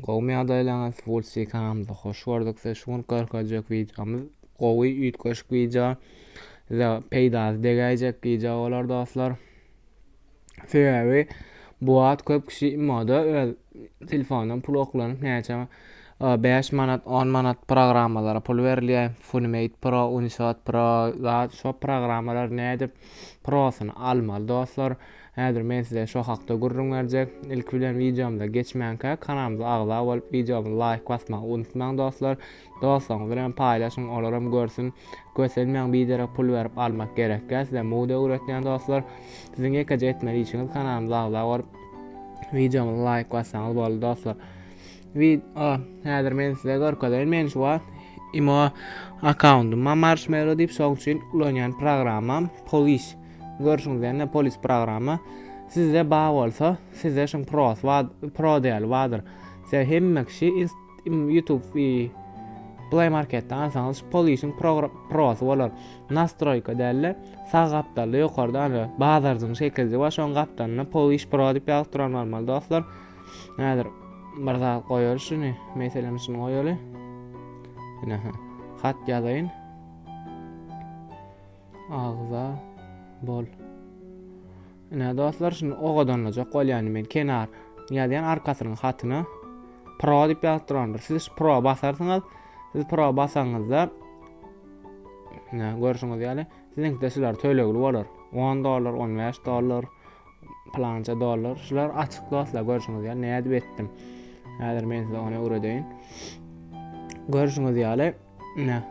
Gowymy ýagdaýlaryňyz Wulsi kanalymyza hoş gördük sizi şu gün görkezjek wideomyz gowy üýtgeşik wideo size peýdasy degäýjek wideo bolar dostlar sebäbi bu wagt köp kişi imoda öz telefondan pul oklanyp näçe 5 manat 10 manat programmalara pul berilýär funimate pro unishot pro zat şo programmalar nädip prosyny almaly dostlar Häzir men size şo hakda gürrüň berjek. Ilki bilen wideomyza geçmänkä kanalymyza agza bolup wideomyza laýk basmagy unutmaň dostlar. Dostlaryňyz bilen paýlaşyň olaram görsün. Kösenmäň biderek pul berip almak gerekkä size mowda öwretýän dostlar. Siziň ýekeje etmeli işiňiz kanalymyza agza bolup wideomyza laýk bassaňyz boldy dostlar. Video häzir men size görkezeýin. Men şu wagt imo akkauntymda marshmallow diýip şoň üçin ulanýan programmam police. Görşüňiz ýaly polis programa sizde ba bolsa sizde şun pros ba pro däl badyr size hemme kişi youtube play marketde alsaňyz şu polisiň prosy bolar nastroyka dälle sag gapdalda ýokarda ana bazarjyň şekilji wa şoň gapdalynda polis pro diýip ýazyp duran bolmaly dostlar häzir bir zat goýar şuny meselem şuny goýaly ine hat ýazaýyn Agza bol. Ine dostlar şunu ogadanlajak bolýan men kenar ýazýan arkasynyň hatyna pro diýip ýazyp durandyr. Siz şu pro basarsyňyz. Siz pro basaňyzda ine görşüňiz ýaly siziňkide şular tölegli bolar. 10 dollar, 15 dollar, plança dollar. Şular açyk dostlar görşüňiz ýaly nädip etdim. Häzir men size ony öwredeýin. Görşüňiz ýaly Ine.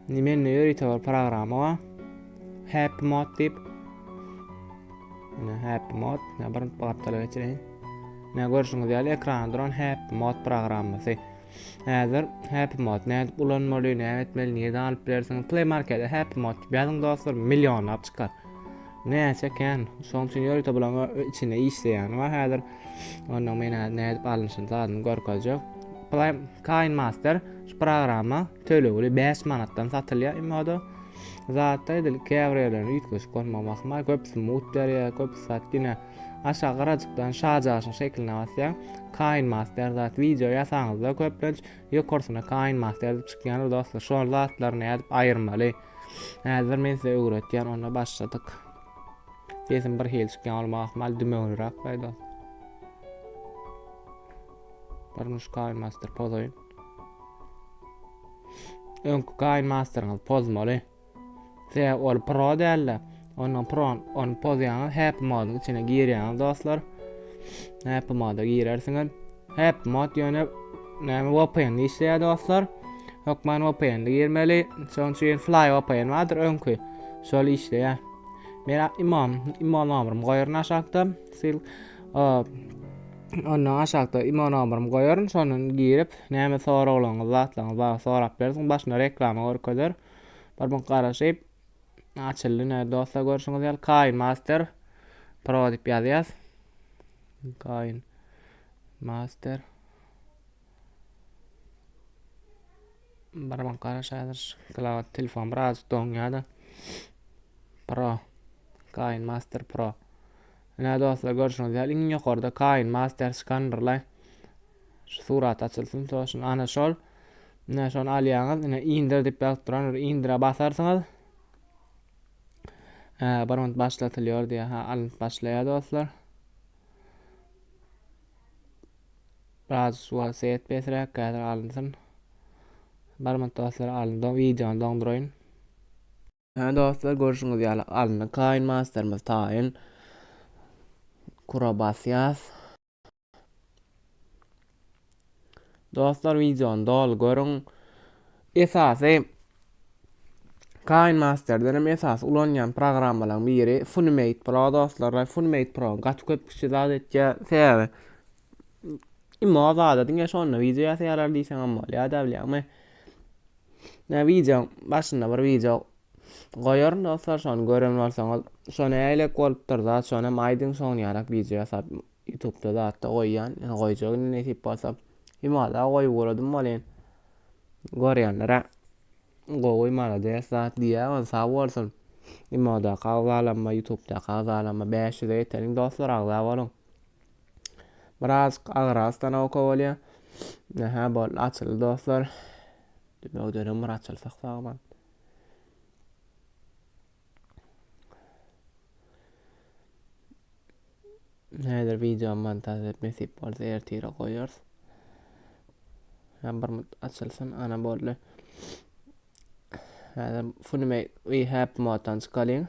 Mende ýörite bir programma bar. Happy mod diýip. Ine happy mod. Ne bir gapdala geçireýin. Ne görşüňiz ýaly ekranda duran happy mod programmasy. Häzir happy mod ne edip ulanmaly, ne etmeli, niýe alyp bilersiň? Play markete happy mod diýip ýazyň dostlar, millionlap çykar. Näçe kän. Şoň üçin ýörite bulaň içinde işleýäni bar häzir. Onda men häzir nädip alnyşyny zadyny görkezjek. Prime Kain Master şu programma tölegli 5 manatdan satylýar imoda. Zatda edil käbir ýerlerinde üýtgeşik bolmagy basma, köpüsi mut berýär, köpüsi zat diňe aşağı garajykdan şajaşyň şekline basýar. Kain Master zat wideo ýasaňyzda köplenç ýokarsyna Kain Master diýip çykýandyr dostlar. Şol zatlaryny nädip aýyrmaly? Häzir men size öwretýän onda başladyk. Sesim bir hili çykýan olma ahmal dümewliräk gaýda. Durmuş kaýyn master pozoýun. Öňki kaýyn masteryňyz pozmaly. Se ol pro däl-de. Ondan pron ony pozýaňyz, happy mode içine girýäňiz dostlar. Happy mode girersiňiz. Happy mode ýöne näme VPN işleýär dostlar. Hökman VPN girmeli. Şonuň üçin Fly VPN bardyr öňki. Şol işleýär. Men imam, imam amrym goýaryn aşakda. Sil Ondan aşakda imam amrym goýaryn, şondan girip, näme soraglaryňyz, zatlaryňyz bar, sorap bersin. Başynda reklama görkezer. Bir gün garaşyp, Açyldy näde dostlar görşüňiz ýaly Kain Master Pro diýip ýazýas. Kain Master Barmak garaş hazır klawiat telefon biraz doňýada. Pro Kain Master Pro Näde dostlar görşüňiz ýaly iň ýokarda Kain Master Scannerlaý şu surat açylsyn soşun ana şol Ine şony alýaňyz. Ine indir diýip ýazyp duran bir indire basarsyňyz. Hä, bir minut başlatylýar diýýär. Ha, alnyp başlaýar dostlar. Biraz suwa set pesräk häzir alynsyn. Bir minut dostlar alyndy. Wideony doňduraýyn. Hä dostlar görşüňiz ýaly alyndy. Kaýyn masterimiz taýyn. Kura basýas. Dostlar videony doly görüň. Esasy Kain Master'den hem esas ulanýan programmalardan biri Funimate Pro dostlar. Funimate Pro gaty köp kişi zat etýä. Sebäbi imma zada diňe şonda video ýasaýarlar diýseň hem bolýar da bilýärmi? Ne video başynda bir video Goýaryn dostlar şony gören bolsaňyz. Şo nälelik bolupdyr zat şonam aýdyň soňun ýarak wideo ýasap ýutubda zatda goýýan ýöne goýjak indi nesip bolsa. Himada goýup uradym welin görýänlere gowy malades zat diýýän ol sag bolsun. Imodaka agzalanma ýutubdaka agzalanma bäş ýüze ýeteliň dostlar agza boluň. Birazajyk agyr ostanowka bolýa. Nä hä boldy açyldy dostlar. Dümewdenem bir açylsak sagman. Häzir video montaj edip nesip bolsa ertire goýarys. Hem bir mut açylsyn, ana boldy. Häzir funime we hep moddan çykalyň.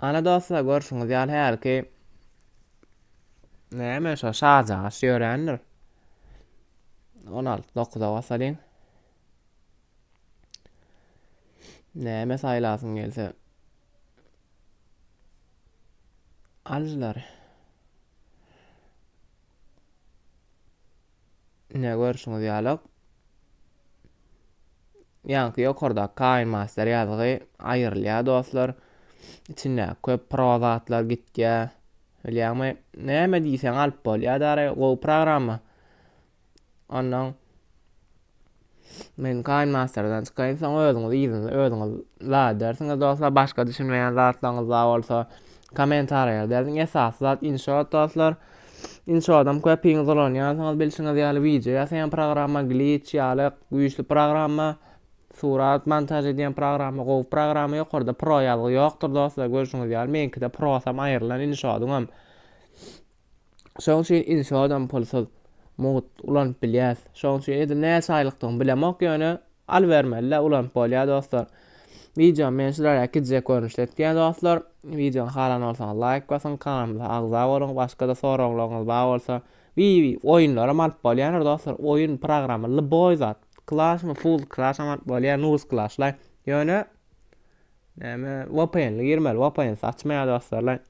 Ana dostlar görşüňiz ýaly hälki näme şo şarjagaş ýörändir. 16 9-a basalyň. Näme saýlasyň gelse. Aljylar. Ine görşüňiz ýalak. Ýaňky ýokardaky kaýyn master ýazgy aýyrylýar dostlar. Içindäki köp pro zatlar gitýär. Bilýäňmi? Näme diýseň alyp bolýar dary, gowy programma. Ondan Men Kaýn Masterdan çykaýyn soň özüňiz yzyny özüňiz la edersiňiz dostlar başga düşünmeýän zatlaryňyz bar bolsa komentarýa derziň esasy zat inşot dostlar inşodam köpiňiz ulanýansyňyz bilşiňiz ýaly wideo ýasaýan programma glitch ýaly güýçli programma surat montaž edýän programma gowy programma ýokarda pro ýazgy ýokdur dostlar görşüňiz ýaly meňkide prosam aýrylan inşodyňam Şoň üçin inşoodam pulsuz, mugt, ulanyp bilýäs. Şoň üçin edil näçe aýlykdygyny bilemok, ýöne alybermelide ulanyp bolýar dostlar. Wideony men şulara gijek görnüşde etýän dostlar. Wideony halan bolsaňyz laýk basyň, kanalymyza agza boluň. Başga-da soraglaryňyz bar bolsa, wiwi oýunlaram alyp bolýandyr dostlar. Oýun programma lyboý zat. Klasmy, full klasam alyp bolýar, nuz klaslaý. Ýöne näme vpn-li girmeli, vpn-siz açmaýar dostlar.